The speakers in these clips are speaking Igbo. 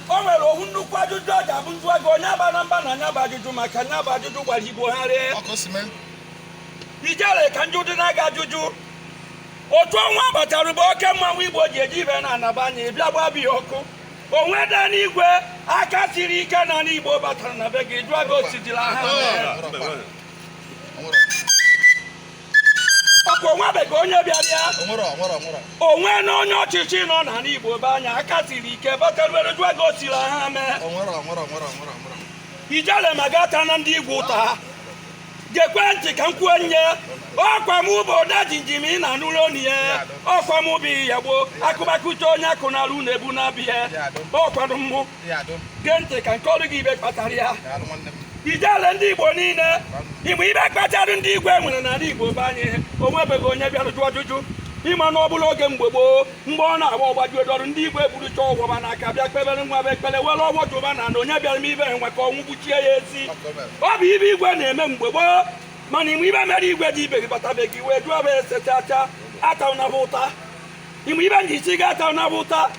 o nwere ovu nnukwu ajụjụ ọ ga-abụ m jụọ gị onye abana m mba na nya bụ ajụjụ maka nya bụ ajụjụ gbara igbo gharịị ijele ka m jụdịnụ gị ajụjụ otu ọnwa batara bụ oke mmanwụ igbo ji eji ibe na ana be anyị a bịa gbaba ya ọkụ o nwedịrị igwe aka siri ike n'ana igbo batara na be gị jụọ gị o sidịrị aghaa ọkụ o nwebeghị onye bịara ya o nwena onye ọchịchị nọ n'ana Igbo be anyị aka siri ike bataruere jụọ gị o siri aghaa mee ijele ma ga-ata na ndị igwe ụta ha gekwe ntị ka m kwuo nye ọkwa m bụ odejimjim ị na-anụrụ onu ya ọkwa m bụ ya gboo akụbakụta onye akụ na-alụ na-ebu na-abịa ọkwado mmụ gee ntị ka m kọọrụ gị ive kpatara ya ijele ndị igbo niile ị ma ive kpatara ndị igwe nwere n'ala igbo be anyị o nwebeghị onye bịara jụọ ajụjụ ị ma na ọ bụrụ oge mgbe gboo mgbe ọ na-agba ọgbaji odọrụ ndị igwe burucha ọvọ va n'aka bịa kpebere nwa bụ ekpere were ọvọ jụba na na onye bịara mee ive nwa ka ọnwụ gbuchie ya ezi ọ bụ ive igwe na-eme mgbe gboo mana ị ma ive mere igwe dị ibe gị batabeghị wee jụọ bụ ese chacha atana va ụta ị ma ive m ji sị gị atana va ụta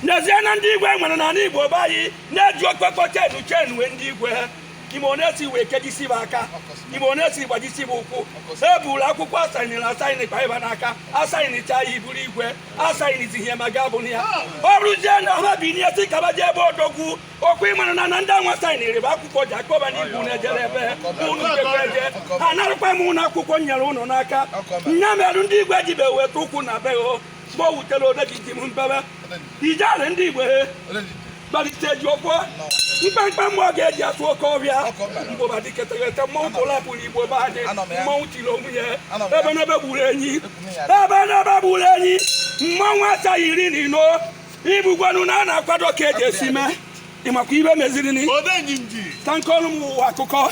n'ezie na ndị igwe nwere n'ala igbo be anyị na-eji okpekpo chenu chenu wee ndị igwe ha ị ma one e si wee kejisie va aka ị ma one e si gbajisie va ụkwụ e buru akwụkwọ a sainiri asaini kpaị va n'aka a sainichaa ya ị bụrụ igwe a sainizie ihe ma ga bụ na ya ọ rụzie na ha bi n'ihe sị ka va jee ebe odogwu okwu ịmara na na ndị anwa sainiri va akwụkwọ ji akọ va na ibu na-ejere ebe unu jebe eje a narụkwa unu akwụkwọ nyere unu n'aka nya merụ ndị igwe jibe weta ụkwụ na be o mgbe o wutere odejimjim bebe ijele ndị igbo he kpalite ji ọkwọ mkpamkpa mmụọ ga-eji atụ oke ọbịa mgbụba diketerete mmọnwụ pụlapụ na igbo be anyị mmọnwụ tiri onwe ya ebenebe gburu enyi ebenebe gburu enyi mmọnwụ asaghị iri na ino ị vụgonu na a na-akwado ka e ji esi mee ị makwa ive meziri ni ka m kọọrụ ụwa akụkọ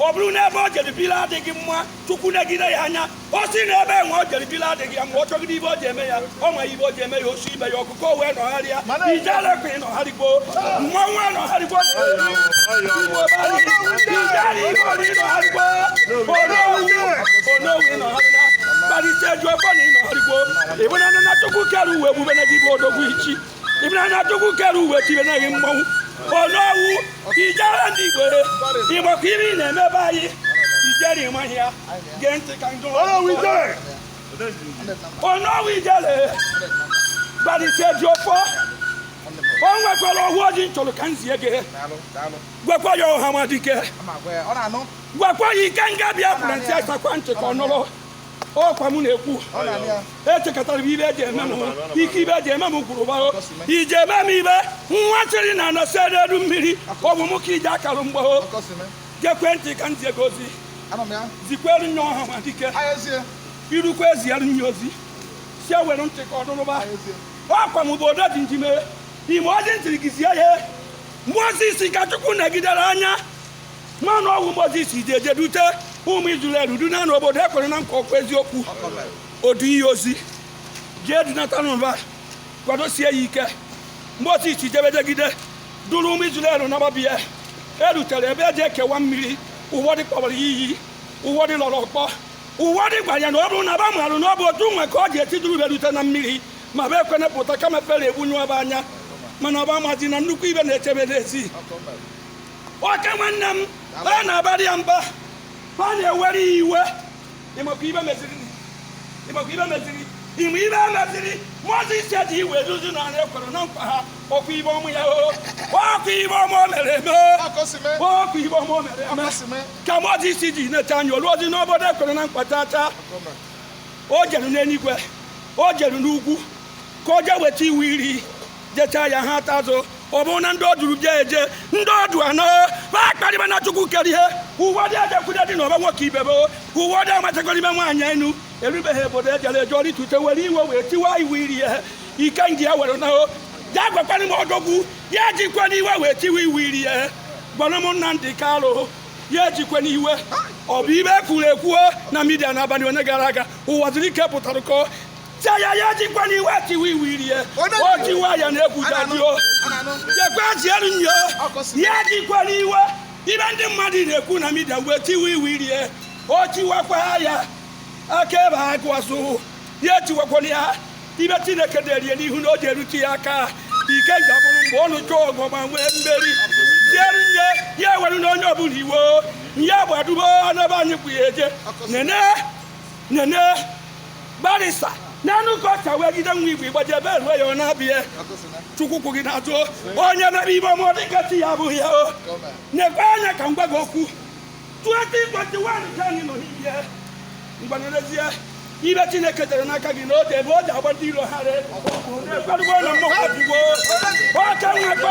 ọ bụrụ na ebe o jere biri adịghị mma chukwu negide ya anya ọ sị na ebe nwa o jere biri adịghị ya mma ọ chọgide ive o ji eme ya ọ ma ive o ji eme ya o si mee ya ọkụkọ wee nọgharịa ijele kwa ị nọgharịgo mmanwụ anọgharịgo onowu ị nọgharịna kparịta eju ebe na ị nọgharịgo ị vụnanụ na chukwu kere ụwa ebube na gị bụ odogwu ichi ịbụnanya chukwu kere uwe tibe naghị mmanwụ onowu ijele ndị igbo ịgbakọ iri na-emebe anyị ijele ị maghị ya gee ntị ka njọ onowu ijele gbalite ji ofọ o nwekwara ọhụ ọjị nchọrọ ka m zie gị gwakwa ya ọhamadike gwakwa ya ike nga bịa kwuru ntị asakwa ntị ka ọ nụrụ ọkwa m na-ekwu echekọtara m ibe eji eme m ike ibe eji eme m gwụrụ ba o iji eme m ibe nwa chịrị na anọsi n'elu mmiri ọ bụ m ka iji akara mgbagho gekwee ntị ka m zie gị ozi zikweere nye ọhamadike irukwa eziere nye ozi sị ya were ntị ka ọ dụrụba ọkwa m bụ odo dị n'ime ime ọjị ntiri gị zie ya mmụọ ozi isi ka chukwu negidere anya mana ọ bụ mozis jeje dute ụmụ izrel duna n'obodo e kwere na nkwa ọkwa eziokwu odu ihe ozi jee dunata n'ụba kwadosie ya ike mozis jebejegide duru ụmụ izrel nababia erutere ebe eji ekewa mmiri ụbọdị kpọba ya iyi ụbọdị lọrọ ọkpọ ụbọdị gwara ya na ọ bụrụ na ba marụ na ọ bụ otu nwa ka ọ ga-eti duru ba rute na mmiri ma ba ekwene pụta kama fero egbunyụọ ba anya mana ba amazi na nnukwu ibe na-eche ba n'ezi ọkwa nwanne m a na-abara ya mba a na-ewere ya iwe ị makwa ibe meziri ị makwa ibe meziri ị ma ibe meziri mozis eji iwe duzi n'anị e kwere na nkwa ha ọkwa ibe ọmụ ya o ọkwa ibe ọmụ o mere eme ọkwa ibe ọmụ o mere eme ka mozis ji neta anya olu ozi n'obodo ekwere na nkwa tata o jere n'eluigwe o jere n'ugwu ka o jee weta iwu iri jechaa ya ha ata azụ ọ bụrụ na ndị o duru bịa eje ndị o du ana akparịbana chukwu kere ihe uwe dị ejekwude dị n'ọba nwoke ibebe uwe dị amachakọrọ ime nwaanyị enu erubeghị obodo ejere eje o rute were iwe wee tiwa iwu iri ihe ike nji ya were nahụ ya gwakwana m odogwu ya ejikwana iwe wee tiwa iwu iri ihe gwara m nna ndị kalụ ya ejikwana iwe ọ bụ ibe ekwuru ekwuo na midia n'abalị ole gara aga ụwa zuru ike pụtara kọọ Chaya ya ejikwana iwe tiwa iwu iri ya. O tiwa ya na egwu ja-adị o. Jekwa zielu nye. Ya ejikwana iwe ibe ndị mmadụ na-ekwu na midia wee tiwa iwu iri ya. O tiwakwa ya. Aka ebe ha gụwasụ. Ya etiwakwana ya. Ibe Chineke derie n'ihu na ọ ja-erute ya aka. Ike ga bụrụ mgbe ọ nụcha ọgụ ma nwee mmeri. Zielu nye ya ewerena onye ọbụla iwe. Ya gbadubo n'ebe anyị kwụ ya eje. Nene nene barisa n'anụ ka ọcha wee jide nwa igbo igbaji ebe eruo ya ọ na-abịa chukwu kwụ gị n'azụ onye mere ibe ọma dịka chi ya abụghị ya o na-ekwe anya ka m gwa gị okwu 2021 ka anyị nọ n'ihe mgbanyerezie ibe chineke tere n'aka gị n'oge ebe o ji agba ndị iro ha re ekwerugbo na mmụọ abụgbo oke nwekọ